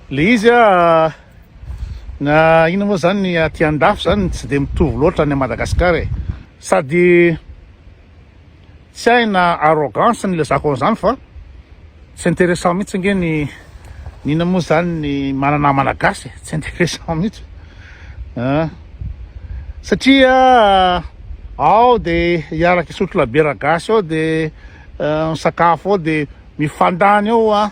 Le izy a na inona moa zany ny aty andafy zany tsy de mitovy loatra any Madagascar e sady tsy hay na arrogance ny ilazako an'izany fa tsy intéressant mihitsy ange ny ny inona moa zany ny manana malagasy e tsy intéressant mihitsy a satria ao de hiaraka isotro labiera gasy ao de misakafo ao de mifandany ao a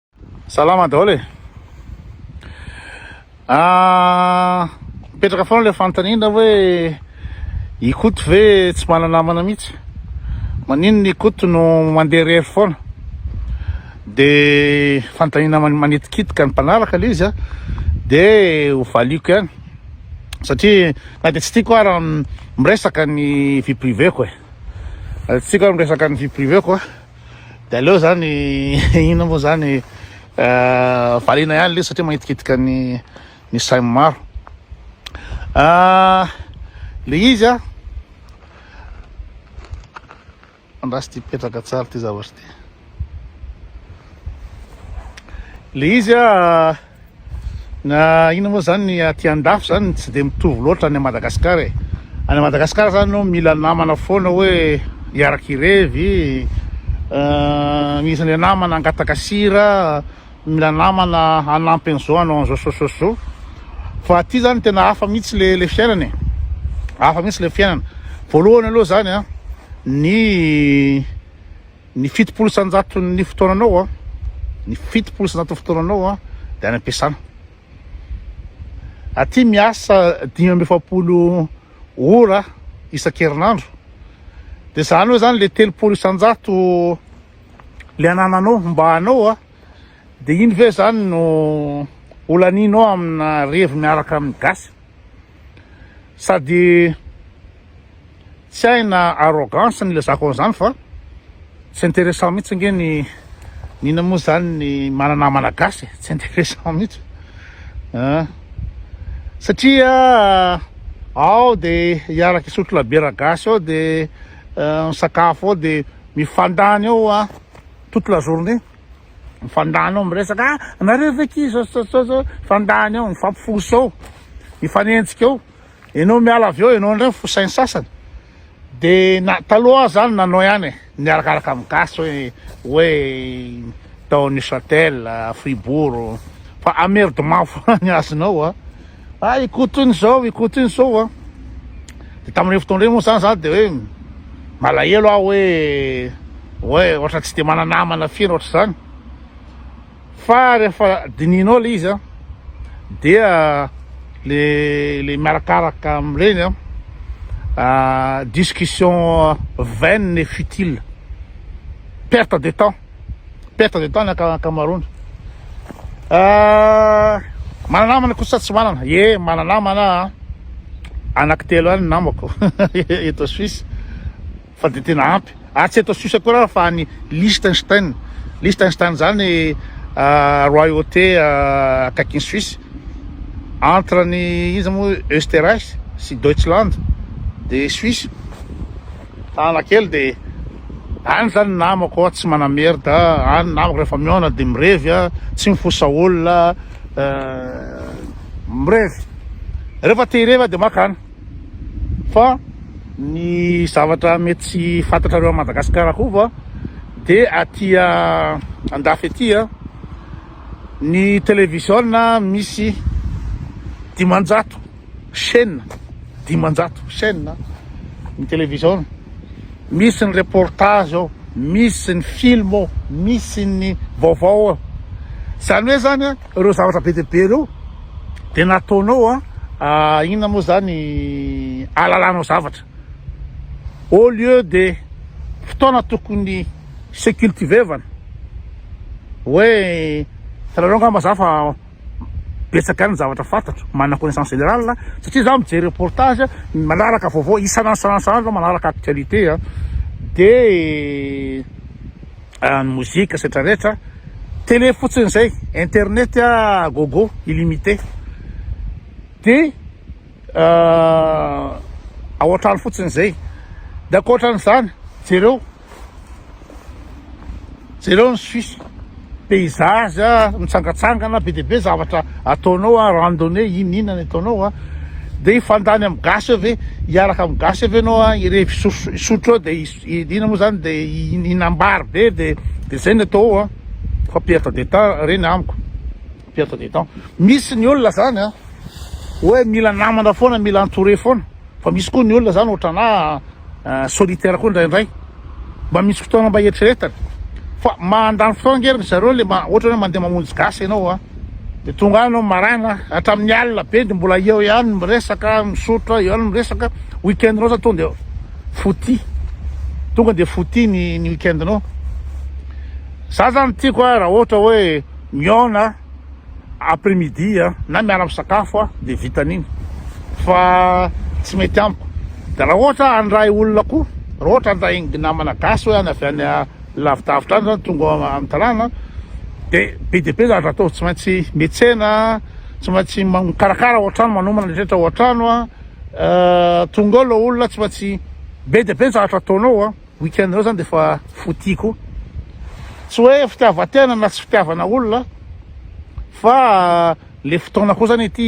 Salama daholo e. Ah, mipetraka foana ilay fanontaniana hoe i Koto ve tsy manana namana mihitsy? Maninona i Koto no mandeha irery foana? Dia fanontaniana manitikitika ny mpanaraka ilay izy a, dia ho valiako ihany satria na dia tsy tiako ara miresaka ny vie privée-ko e, tsy tiako ara miresaka ny vie privée-ko a. De aleo zany inona moa zany euh, variana ihany le satria maitikitika ny ny sain'ny maro ah, le izy a andrasy ty petraka tsara ty zavatra ty le izy a Na inona moa zany ny aty andafy zany tsy de mitovy loatra any Madagascar e Any Madagascar zany no mila namana foana hoe hiaraky hirevy euh, misy le namana angataka sira mila namana hanampy an'izao hanao an'izao sososo fa aty zany tena hafa mihitsy le le fiainana e hafa mihitsy le fiainana voalohany aloha zany a ny Ny fitopolo isan-jaton'ny fotoananao, ny fitopolo isan-jaton'ny fotoananao dia any am-piasana. Aty miasa dimy amby efapolo ora isan-kerinandro, dia izany hoe izany le telopolo isan-jato le anananao mba anao, dia iny ve izany no olaninao amina revy miaraka amin'ny gasy? Sady Tsy hay na arrogance no ilazako an'izany fa tsy intéressant mihitsy ange ny n'inona moa izany ny manana Malagasy e, tsy intéressant mihitsy an, satria ao dia hiaraka hisotro labiera gasy ao dia misakafo ao dia mifandany ao an, toute la journée mifandany ao miresaka ah nareo ve akia zao zao zao zao mifandany ao mifampifosa ao mifanenjika ao Enao miala avy eo enao indray ny fosain'ny sasany de na taloha aho zany nanao ihany e niarakaraka amin'ny gasy hoe hoe tao Neuchâtel Fribourg fa amerdement foana ny azonao a ah ikoto iny zao ikoto iny zao a de tamin'ireny fotoana ireny moa zany za de hoe malahelo aho hoe hoe ohatra tsy de mananamana firy ohatra zany Fa rehefa dinihinao le izy dia le le miarakaraka amin'ireny ah, discussion vaine et futile, perte de temps, perte de temps ny ankamaroany. Ah, manana namana kosa tsy manana? Ye, manana namana, anaky telo ihany ny namako eto Suisse. Fa dia tena ampy ary tsy eto Suisse akory aho fa any Liechtenstein. Liechtenstein izany royauté akaikin'i Suisse, entre ny iza moa Österreich sy Deutschland dia Suisse. Tànana kely dia any izany ny namako tsy manamerda, any ny namako rehefa mihaona dia mirevy, tsy mifosa olona, mirevy. Rehefa te-hirevy aho dia makany. fa ny zavatra mety tsy fantatrareo any Madagasikara koa va dia aty andafy aty ny télévision misy dimanjato chaîne dimanjato chaîne ny télévision misy ny reportage ao misy ny film ao misy ny vaovao ao zany hoe zany Ireo zavatra be dia be ireo dia nataonao an, inona moa izany, ahalalanao zavatra. Au lieu de fotoana tokony hisecultivevana, hoe hitanareo angamba za fa betsaka ihany ny zavatra fantatro, manana connaissance générale, satria za mijery reportage, manaraka vaovao isan'andro isan'andro isan'andro aho, manaraka actualité an, dia. Ny mozika sy rehetra rehetra tele fotsiny zay internet a gogo illimite de ao antrano fotsiny zay de ankoatran'izany jereo jereo ny suisse paysage a mitsangatsangana be dia be zavatra ataonao a randonne inona inona ny ataonao a de hifandany amin'ny gasy eo ve hiaraka amin'ny gasy eo ve ianao a hirevi- hisotro eo de I Dina moa zany de hinambary be de de zay ny atao ao an, fa perte de temps re ny amiko, perte de temps, misy ny olona zany an hoe mila namana foana, mila entouré foana, fa misy koa ny olona zany otranà solitaire koa ndraindray, mba misy fotoana mba hieritreretana, fa mandany fotoana ange ry zareo le ma ohatra hoe mandeha mamonjy gasy ianao an, de tonga any ianao maraina hatramin'ny alina be de mbola eo ihany miresaka, misotra, eo ihany miresaka, week-end-nao zany tonga de. Footy. Tonga dia footy ny ny week-end-nao. Za zany tiako a raha ohatra hoe mihaona après midi a na miala misakafo a de vita an'iny fa tsy mety amiko. De raha ohatra handray olona koa, raha ohatra handray ny namana gasy hoe any avy any lavidavitra any zany tonga amin'ny tanàna de be dia be zavatra atao, tsy maintsy miantsena, tsy maintsy mikarakara ao an-trano, manomana ny rehetra ao an-trano a. Eh, tonga ao ilay olona tsy maintsy be dia be ny zavatra ataonao a. Week-end anao zany dia efa fouti koa. Tsy hoe fitiavan-tena na tsy fitiavana olona fa le fotoana koa zany ity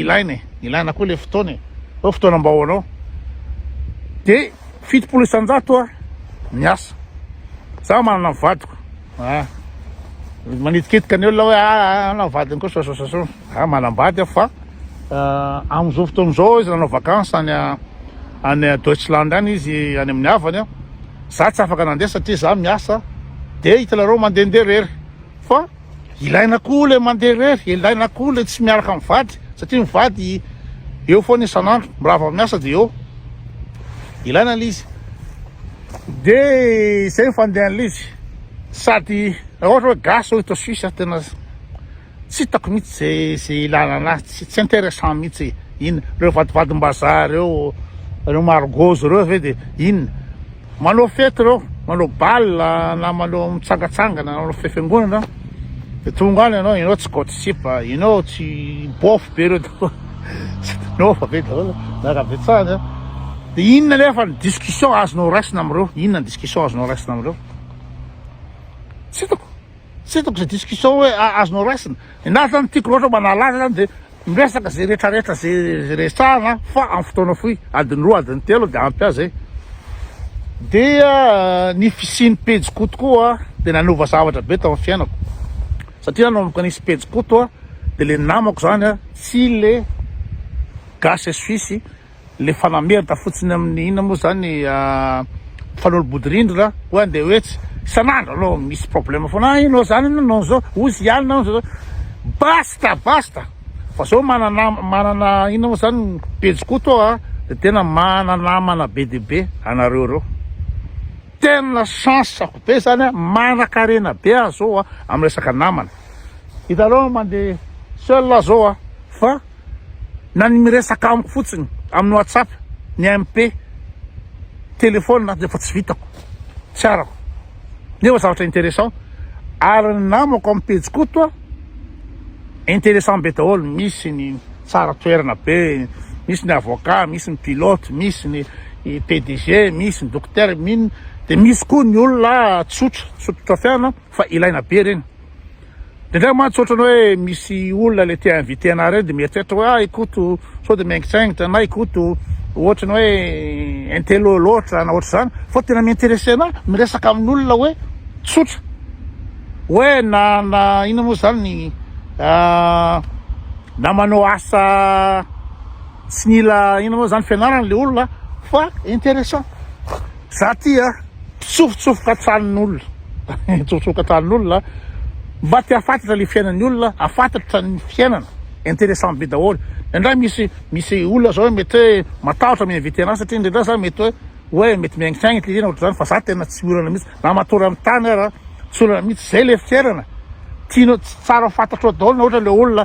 ilaina e, ilaina koa le fotoana e, hoe fotoana mba ho anao. Dia fitopolo isan-jato a miasa, za manana ny vadiko a, manitikitika ny olona hoe a ah, ah, ah, na vadiny koa sosososo. Za manambady aho fa eh, amin'izao fotoana izao izy nanao vacances any any Deutschland any izy any amin'ny havany a, za tsy afaka nandeha satria za miasa dia hitanareo mandehandeha rery fa ilaina koa le mandeha rery, ilaina koa le tsy miaraka amin'ny vady satria ny vady eo foana isan'andro raha vao miasa dia eo ilaina le izy dia izay ny fandehan'izy sady ohatra hoe gasy ohatra Suisse tena tsy hitako mitsy ze ze ilana anazy tsy tsy intéressant mitsy inn reo vadivadimbazaha reo reo margozy reo ve de inn manao fety reo manao bal na manao mitsangatsangana na manao fifiangonana de tonga any anao enao tsy kaoty sipa enao tsy bofy be reo daholo enao fa be daholo na rabetsahany a de inn nefa ny discussion azonao raisina amreo inn ny discussion azonao raisina amreo tsy hitako Tsy hitako izay discussion hoe azonao raisina. Ny ahy zany tiako loatra mba nahalala zany dia miresaka izay rehetra rehetra izay resahana fa amin'ny fotoana fohy, adiny roa, adiny telo dia ampy azy e. Dia ny fisian'ny pejy koto koa dia nanova zavatra be tao amin'ny fiainako. Satria nanomboka nisy pejy koto dia le namako zany tsy le gasy suisse Le fanamerda fotsiny amin'ny inona moa zany fanolobodirindrina hoe andeha ho etsy isan'andro anao misy problème foana ah ianao zany ianao nanao zao ozy ihany nanao zao basta basta fa zao manana manana inona moa zany pejy koto aho ah de tena manana namana be dia be anareo reo tena chance ako be zany ah manakarena be aho zao ah amin'ny resaka namana hitanao mandeha seul aho zao ah fa na ny miresaka amiko fotsiny amin'ny whatsapp ny MP telephone aza efa tsy vitako tsy arako nefa zavatra intéressant ary ny namako amin'ny pejy koto a intéressant be daholo misy ny tsara toerana be misy ny avocat misy ny pilote misy ny PDG misy ny docteur mino de misy koa ny olona tsotra tsotra fiana Fa ilaina be ireny. Indraindray mantsy ohatran'ny hoe misy olona ilay te inviter anà ireny dia mieritreritra hoe ah i Koto sao dia miaingitsaingitra na i Koto ohatran'ny hoe intello loatra na ohatr'izany fa tena mi-interesser anà miresaka amin'olona hoe tsotra hoe na na inona moa izany ny ah, na manao asa tsy nila inona moa izany fianarana ilay olona fa interessant. Za ty a mpitsofotsofoka tranon'olona mitsofotsofoka tranon'olona mba te afantatra le fiainan'ny olona afantatra ny fiainana interessant be daholo indraindray misy misy olona zao mety hoe matahotra mi inviter anah satria indraindray za mety hoe hoe mety miaingitraingitra izy na ohatr'izany fa za tena tsy olana mihitsy na matory amin'ny tany ara tsy olana mihitsy zay le fiainana tianao tsara fantatrao daholo na ohatra le olona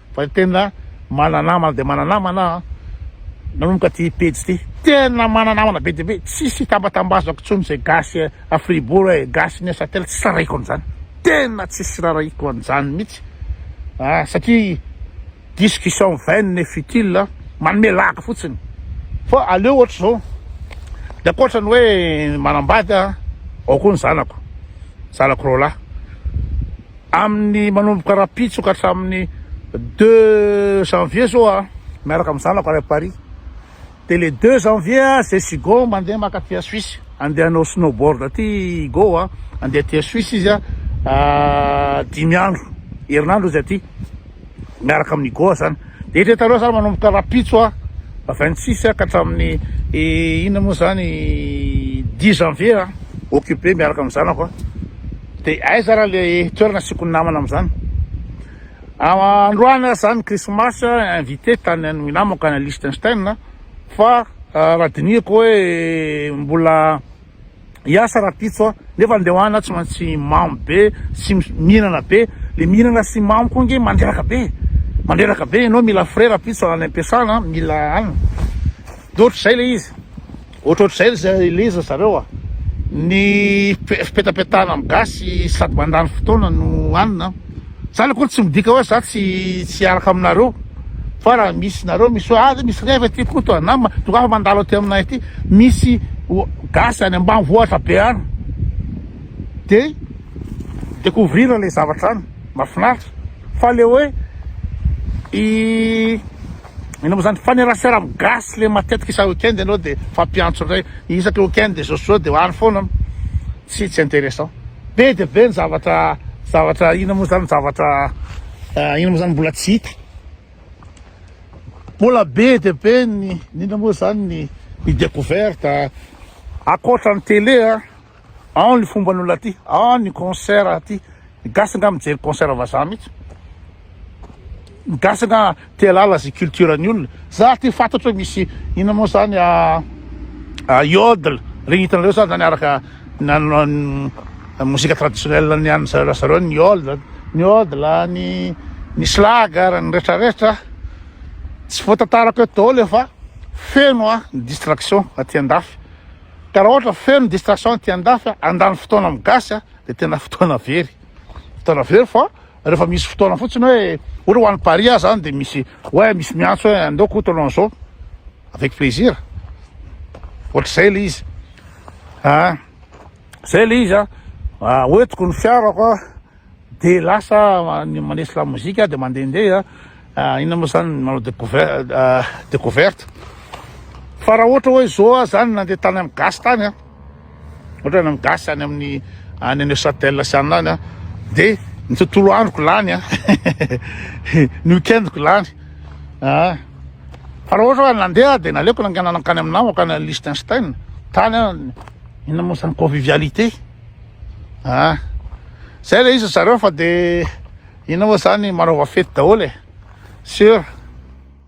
Fa ny tena manana namana dia manana namana an! Nanomboka ity pejy ity, tena manana namana be dia be, tsisy hitambatambazako intsony izay gasy à Fribourg hoe gasy Neuchâtel, tsy rarahiko an'izany, tena tsisy rarahiko an'izany mihitsy an! Satria discussion vaine et futile, manome lagy fotsiny. Fa aleo ohatra izao, ny ankoatra ny hoe manambady an, ao koa ny zanako, zanako roalahy. amin'ny manomboka rahampitso ka hatramin'ny deux janvier zao aho miaraka amin'ny zanako any Paris dia le deux janvier aho zay sy Hugo mandeha mankaty à Suisse andeha hanao snowboard aty Hugo a andeha aty à Suisse izy a dimy andro herinandro izy aty miaraka amin'ny Goa zany de ireto aloha zany manomboka rapitso a 26 ka hatramin'ny inona moa zany 10 janvier a occupé miaraka amin'ny zanako a de aiza raha le toerana asiako ny namana amin'izany androany aza zany christmas invité tany amin'ny namako any Liechtenstein fa raha dinihiko hoe mbola hiasa rapitso a, nefa ny leoana tsy maintsy mamo be sy mihinana be, le mihinana sy mamo koa nge mandreraka be mandreraka be, enao mila frais rapitso any ampiasana mila any de ohatr'izay le izy ohatrohatr'izay zay le izy zareo a ny fipetapetahana amin'ny gasy sady mandany fotoana no hanina. Zany akory tsy midika hoe za tsy tsy hiaraka aminareo fa raha misy nareo misy hoe ah misy reva aty Koto a na ma- tonga aho mandalo aty aminay aty misy o- gasy any ambanivohitra be any de découvrir le zavatra any mahafinaritra fa le hoe i Inona moa zany fanerasera am gasy le matetika isa weekend enao de fampiantso ndray isaka weekend de zao sy zao de ho any foana tsy tsy interessant be de be ny zavatra zavatra inona moa zany zavatra inona moa zany mbola tsy hita mbola be de be ny inona moa zany ny ny decouverte akoatra ny tele a Ao ny fomban'olona aty, ao ny concert aty. Ny gasy nga mijery concert vazaha mihitsy. Ny gasy nga te halala zay culture ny olona. Za aty fantatro misy ina moa zany a ah, ah, yodel, regny hitanareo zany zany araka nanao mozika traditionnelle ny an'ny zareo zareo ny yodel, ny yodel, ny ny slager, ny retraretra. Tsy voatantarako eto daholo efa feno a ny distraction aty andafy. Ka raha ohatra feno distraction aty andafy a, handany fotoana amin'ny gasy a, dia tena fotoana very, fotoana very fa rehefa misy fotoana fotsiny hoe ohatra ho any Paris aho zany dia misy hoe misy miantso hoe andao Koto hanao an'izao, avec plaisir, ohatr'izay le izy, ah zay le izy a, hoentiko ny fiarako a. Dia lasa manisy lamozika aho dia mandehandeha, inona moa izany, manao découverte. Fa raha ohatra hoe izao aho izany nandeha tany amin'ny gasy tany an, ohatra any amin'ny gasy any amin'ny any Neuchâtel sy any lany an, dia ny tontolo androko lany an, ny week-endiko lany an. Fa raha ohatra hoe nandeha aho dia naleoko nanganan-kany amin'ny namako any Liechtenstein, tany an, inona moa izany, convivialité. a zay le izy zareo fa de inona moa zany manaova fety daholo e sur